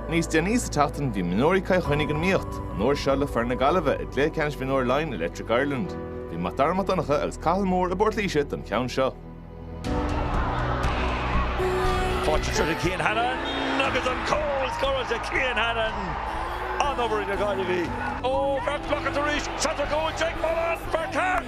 Níos déanaí sa tseachtain bhí mionúir Chill Chainnigh ag imirt, an uair seo le foireann na Gaillimhe i gcluiche ceannais Mhionúir Laighin Electric Ireland. Bhí Mac Dara Mac Donncha agus Cathal Moore i bPort Laoise don cheann seo. Fáilte tríothu Cian Hannon agus an cúl scoir de Cian Hannon, an-obair ag na Gaillimhigh. Ó, bheadh Blockett arís, Chateau Cooch ag moladh as fear ceart!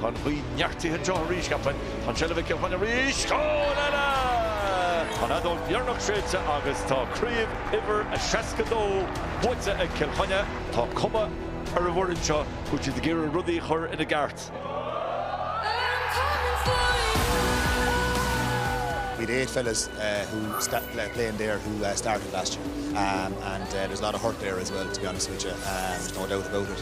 Tá an ghaoth neartaithe anseo arís, cheapfainn. Tá an tseilbh ag Cill Chainnigh arís. Cúl eile! Tá an fheadóg dheireanach séidte agus tá craobh uimhir a 62 buaite ag Cill Chainnigh. Tá cuma ar an bhfoireann seo go bhfuil siad ag iarraidh rudaí a chur ina gceart. Bhí na eight fellas who playing there who started last year and there's a lot of hurt there as well to be honest with you, there's no doubt about it.